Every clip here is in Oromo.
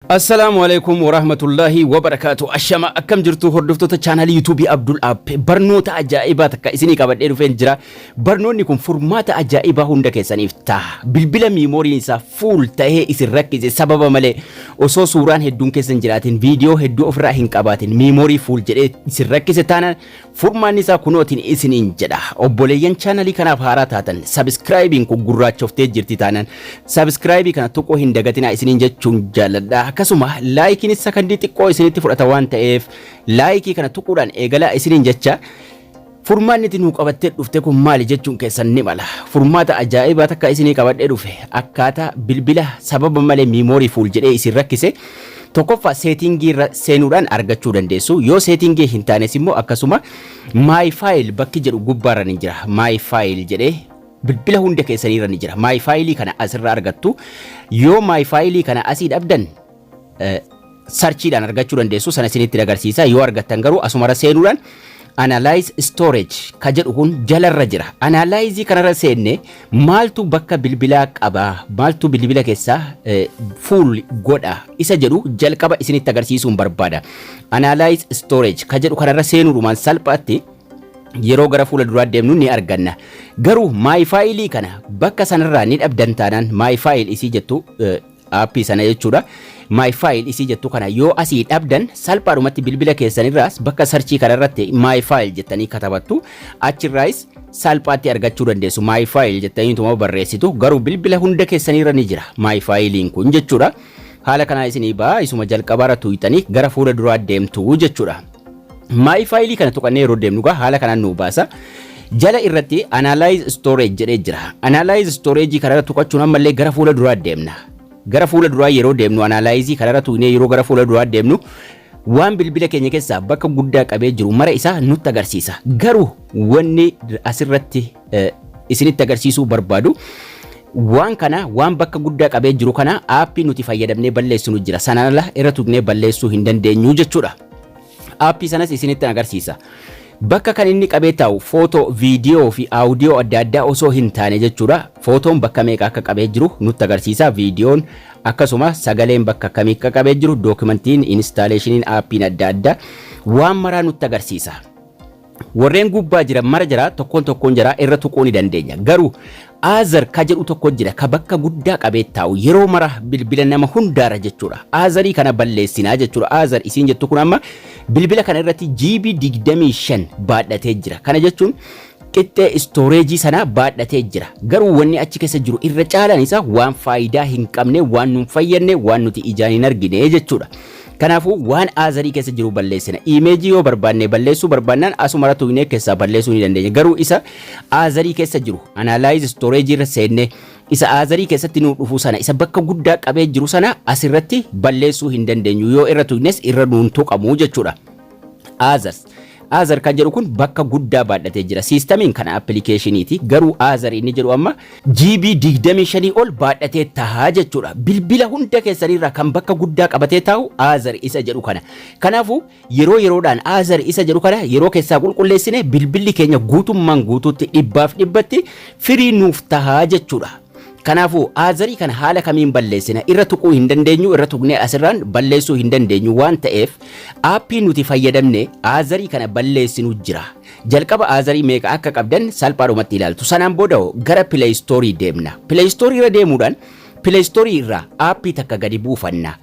Assalaamu Aleeykum Warahmatullaahi Wabarakaatu Ashama akkam jirtu hordoftoota chaanaalii yuutuubii Abdul App barnoota ajaa'ibaa takka isinii qabadhee dhufeen jira barnoonni kun furmaata ajaa'ibaa hunda keessaniif ta'a bilbila miimooriin isaa fuul ta'ee isin rakkise sababa malee osoo suuraan hedduun keessan jiraatin viidiyoo hedduu ofirraa hin qabaatin miimoorii fuul jedhee isin rakkise taana Furmaanni isaa kunootiin isiniin jedha. Obboleeyyan chaanalii kanaaf haaraa taatan sabiskiraayibiin kun gurraachoftee jirti taanaan sabiskiraayibii kana tuquu hin dagatinaa isiniin jechuun jaalladha. Akkasuma laayikiinis sakandii xiqqoo isinitti fudhata waan ta'eef laayikii kana tuquudhaan eegalaa isiniin jecha furmaanni itti nuu qabattee dhufte kun maali jechuun keessan ni mala. Furmaata ajaa'ibaa takka isinii qabadhee dhufe akkaataa bilbila sababa malee miimoorii fuul jedhee isin rakkise Tokkoffaa seetingii irra seenuudhaan argachuu dandeessu. Yoo seetingii hin taanes immoo akkasuma my file bakki jedhu gubbaarra ni jira. My file jedhee bilbila hunda keessaniirra ni jira. My file kana asirra argattu. Yoo my file kana asii dhabdan eh, sarchiidhaan argachuu dandeessu sana isinitti agarsiisa. Yoo argattan garuu asumarra seenuudhaan analyze storage ka jedhu kun jalarra jira. Analyze kanarra seenne Maaltu bakka bilbilaa qaba, maaltu bilbila kessa full godha isa jedhu jalqaba isinitti agarsiisuun barbaada. Analyze storage ka jedhu kanarra seenuudhumaan salphaatti yeroo gara fuula duraa deemnu ni arganna. Garuu my file kana bakka sanarraa ni dhabdan taanaan my file isii jettu Aappii sana jechuudha. My File isii jettu kana yoo asii dhabdan salphaadhumatti bilbila keessanirraas bakka sarchii kanarratti My File jettanii katabattu achirraayis salphaatti argachuu dandeessu. My File jettanii utuma barreessitu garuu bilbila hunda keessanirra ni jira My File'n kun jechuudha. Haala kanaa isinii ba'a isuma jalqabaarra tuuyxanii gara fuula duraa deemtu jechuudha. My file kana tuqannee yeroo deemnu egaa haala kanaan nu baasa. Jala irratti analyze storage jedhee jira. Analyze storage kanarra tuqachuun ammallee gara fuula duraa deemna. Gara fuula duraa yeroo deemnu analyze kanarra tuqnee yeroo gara fuula duraa deemnu waan bilbila keenya keessaa bakka guddaa qabee jiru mara isaa nutti agarsiisa. Garuu wanni asirratti isinitti agarsiisuu barbaadu. Waan kana waan bakka guddaa qabee jiru kana aappii nuti fayyadamnee balleessinu jira. Sanaan ala irra tuqnee balleessuu hin dandeenyu jechuudha. Aappii sanas isinitti agarsiisa. Bakka kan inni qabee taa'u footoo, viidiyoo fi aawudiyoo adda addaa osoo hin taane jechuudha. Footoon bakka meeqa akka qabee jiru nutti agarsiisa. Viidiyoon akkasuma sagaleen bakka akkamii akka qabee jiru, dookimantiin, inistaaleeshiniin, aappiin adda addaa waan maraa nutti agarsiisa. Warreen gubbaa jiran mara jara tokkoon tokkoon jaraa irra tuquu ni dandeenya. Garuu Aazar ka jedhu tokko jira ka bakka guddaa qabee taa'u yeroo mara bilbila nama hundaarra jechuudha. Aazarii kana balleessinaa jechuudha. Aazar isiin jettu kun amma bilbila kana irratti GB 25 baadhatee jira. Kana jechuun qixxee istooreejii sanaa baadhatee jira. Garuu wanni achi keessa jiru irra caalaan isaa waan faayidaa hin qabne, waan nun fayyadne, waan nuti ijaan hin argine jechuudha. Kanaafuu waan aazarii keessa jiru balleessina. Iimeejii yoo barbaanne balleessuu barbaannaan asumara tuqnee keessaa balleessuu ni dandeenya. Garuu isa aazarii keessa jiru analaayiz istooreejii irra seennee isa aazarii keessatti nuu dhufu sana isa bakka guddaa qabee jiru sana asirratti balleessuu hin dandeenyu. Yoo irra tuqnes irra nuun tuqamu jechuudha. Others. Other kan jedhu kun bakka guddaa baadhatee jira. Siistamiin kana appilikeeshiniiti. Garuu Other inni jedhu amma GB 25 ol baadhatee tahaa jechuudha. Bilbila hunda keessaniirraa kan bakka guddaa qabatee taa'u Other isa jedhu kana. Kanaafuu yeroo yeroodhaan Other isa jedhu kana yeroo keessaa qulqulleessine bilbilli keenya guutummaan guutuutti dhibbaaf dhibbatti firii nuuf tahaa jechuudha. Kanaafuu, Azarii kana haala kamiin balleessina? Irra tuquu hin dandeenyu, irra tuqnee asirraan balleessuu hin dandeenyu waan ta'eef aappii nuti fayyadamne Azarii kana balleessinu jira. Jalqaba Azarii meeqa akka qabdan salphaadhumatti ilaaltu. Sanaan booda hoo gara Play Store deemna. Play Store irra deemuudhaan Play Store irraa aappii takka gadi buufanna.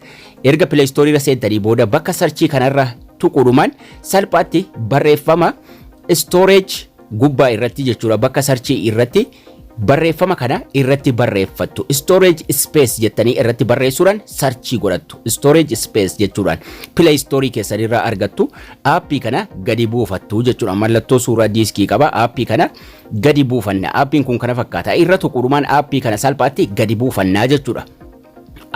Erga Play Store irra seentanii booda bakka sarchii kanarra tuquudhumaan salphaatti barreeffama storage gubbaa irratti jechuudha bakka sarchii irratti barreeffama kana irratti barreeffattu storage space jettanii irratti barreessuudhaan sarchii godhattu storage space jechuudhaan play store keessan irraa argattu aappii kana gadi buufattu jechuudha mallattoo suuraa diiskii qaba aappii kana gadi buufanna aappiin kun kana fakkaata irra tuquudhumaan aappii kana salphaatti gadi buufannaa jechuudha.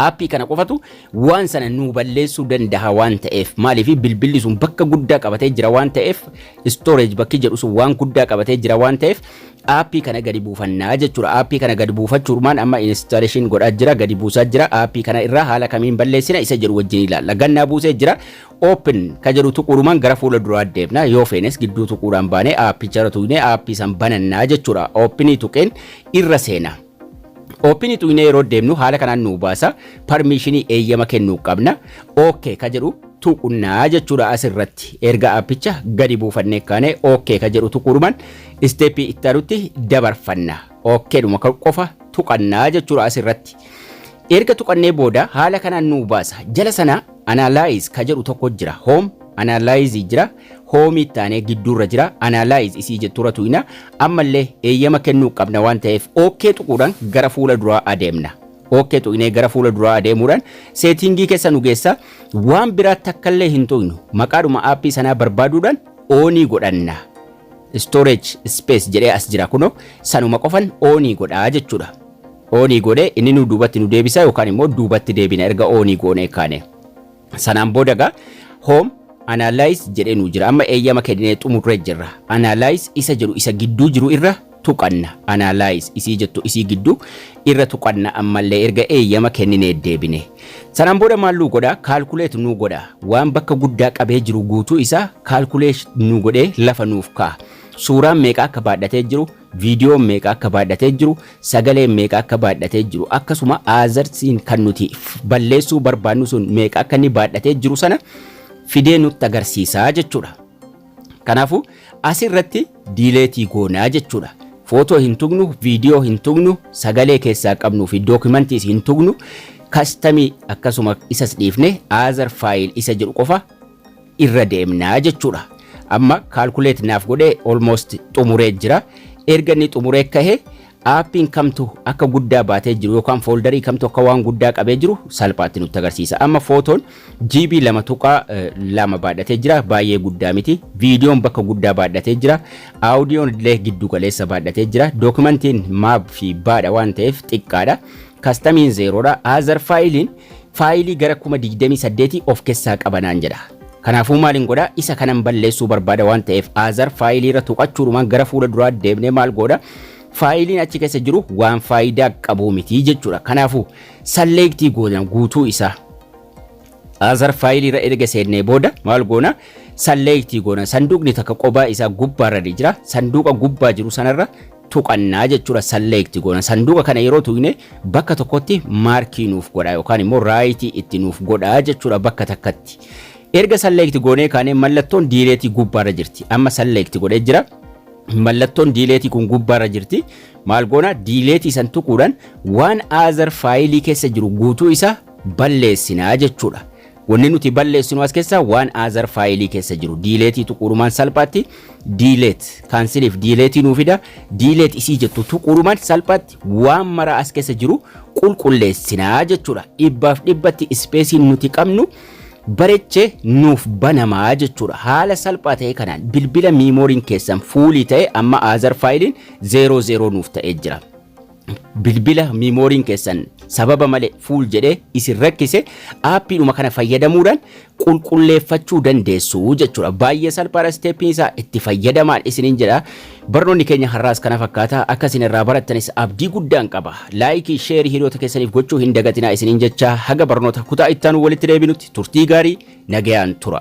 Aappii kana qofatu waan sana nuu balleessuu danda'a waan ta'eef maaliif bilbilli sun bakka guddaa qabatee jira waan ta'eef storage bakki jedhu sun waan guddaa qabatee jira waan ta'eef aappii kana gadi buufannaa jechuudha. Aappii kana gadi buufachuudhumaan amma installation godhaa jira gadi buusaa jira aappii kana irraa haala kamiin balleessina isa jedhu wajjin ilaalla. Gannaa buusee jira open ka jedhu tuquudhumaan gara fuula duraa deemna yoo feenes gidduu tuquudhaan baanee aappicha irra tuqnee aappii san banannaa jechuudha. Openii tuqeen irra seenaa. Open tuqnee yeroo deemnu haala kanaan nuu baasa. Parmiishinii eeyyama kennuu qabna. OK ka jedhu tuqnaa jechuudha as irratti. Erga appicha gadi buufannee kaanee OK ka jedhu tuquudhumaan isteeppii itti aanutti dabarfanna. OK dhuma kan qofa tuqannaa jechuudha as irratti. Erga tuqannee booda haala kanaan nuu baasa. Jala sana analyze ka jedhu tokko jira. Home analyze jira. Home itti aanee gidduurra jira. Analyze isii jetturra tuqna. Ammallee eeyyama kennuu qabna waan ta'eef OK tuquudhaan gara fuula duraa adeemna. OK tuqnee gara fuula duraa adeemuudhaan seetiingii keessa nu geessa. Waan biraa takkallee hin tuqnu. Maqaadhuma aappii sanaa barbaaduudhaan oonii godhanna. Storage space jedhee as jira kunoo sanuma qofan oonii godhaa jechuudha. Oonii godhee inni nu duubatti nu deebisa yookaan immoo duubatti deebina erga oonii goonee kaane. Sanaan booda egaa home analyze jedhee nuu jira. Amma eeyyama kennee xumurree jirra. Analyze isa jedhu isa gidduu jiru irra tuqanna. Analyze isii jettu isii gidduu irra tuqanna ammallee erga eeyyama kenninee deebine. Sanaan booda maal nuu godha? Calculate nuu godha. Waan bakka guddaa qabee jiru guutuu isaa calculate nuu godhee lafa nuuf kaa'a. Suuraan meeqa akka baadhatee jiru viidiyoon meeqa akka baadhatee jiru, sagaleen meeqa akka baadhatee jiru, akkasuma aazarsiin kan nuti balleessuu barbaannu sun meeqa akka inni baadhatee jiru sana fidee nutti agarsiisaa jechuudha. Kanaafuu asirratti diileetii goonaa jechuudha. Footoo hin tugnu, viidiyoo hin tugnu, sagalee keessaa qabnuu fi dookimantiis hin tugnu, kastamii akkasuma isas dhiifne aazar faayil isa jedhu qofa irra deemna jechuudha. Amma calculate naaf godhee almost xumuree jira. Erga inni xumuree kahe aappiin kamtu akka guddaa baatee jiru yookaan fooldarii kamtu akka waan guddaa qabee jiru salphaatti nutti agarsiisa. Amma footoon GB lama tuqaa eh, lama baadhatee jira baay'ee guddaa miti. Viidiyoon bakka guddaa baadhatee jira. Aawudiyoon illee giddu galeessa baadhatee jira. Dookimantiin maab fi baadha waan ta'eef xiqqaadha. Kastamiin zeeroodha. Other faayiliin faayilii gara 28,000 of kessaa qaba naan jedha. Kanaafuu maalin godha isa kanan balleessuu barbaada waan ta'eef other faayilii irra tuqachuudhumaan gara fuula duraa deemnee maal goodha faayiliin achi keessa jiru waan faayidaa qabuu miti jechuudha. Kanaafuu salleektii goona guutuu isaa other faayilii irra erga seennee booda maal goona salleektii goona sanduuqni takka qobaa isaa gubbaarra ni jira sanduuqa gubbaa jiru sanarra tuqanna jechuudha select goona. Sanduuqa kana yeroo tuqne bakka tokkotti maarkii nuuf godha yookaan immoo raayitii itti nuuf godha jechuudha bakka takkatti. Erga select goonee kaanee mallattoon diileetii gubbaarra jirti. Amma select godhee jira. Mallattoon diileetii kun gubbaarra jirti. Maal goona diileetii san tuquudhaan waan other faayilii keessa jiru guutuu isaa balleessinaa jechuudha. Wanni nuti balleessinu as keessaa waan aazar faayilii keessa jiru diileetii tuquurumaan salphaatti diileet kaansiliif diileetii nuu fida diileet isii jettu tuquurumaan salphaatti waan mara as keessa jiru qulqulleessinaa jechuudha. Dhibbaaf dhibbatti ispeesiin nuti qabnu bareechee nuuf banamaa jechuudha. Haala salphaa ta'e kanaan bilbila miimooriin keessan fuulii ta'e amma aazar faayiliin zeeroo zeeroo nuuf ta'ee jira. bilbila miimooriin keessan sababa malee fuul jedhee isin rakkise aappiidhuma kana fayyadamuudhaan qulqulleeffachuu dandeessu jechuudha. Baay'ee salphaadha isteeppiin isaa itti fayyadamaan isiniin jedha. Barnoonni keenya har'aas kana fakkaata akka isin irraa barattanis abdii guddaan qaba. Laayikii sheerii hiriyoota keessaniif gochuu hin dagatinaa isiniin jecha haga barnoota kutaa ittaanu walitti deebinutti turtii gaarii nagayaan tura.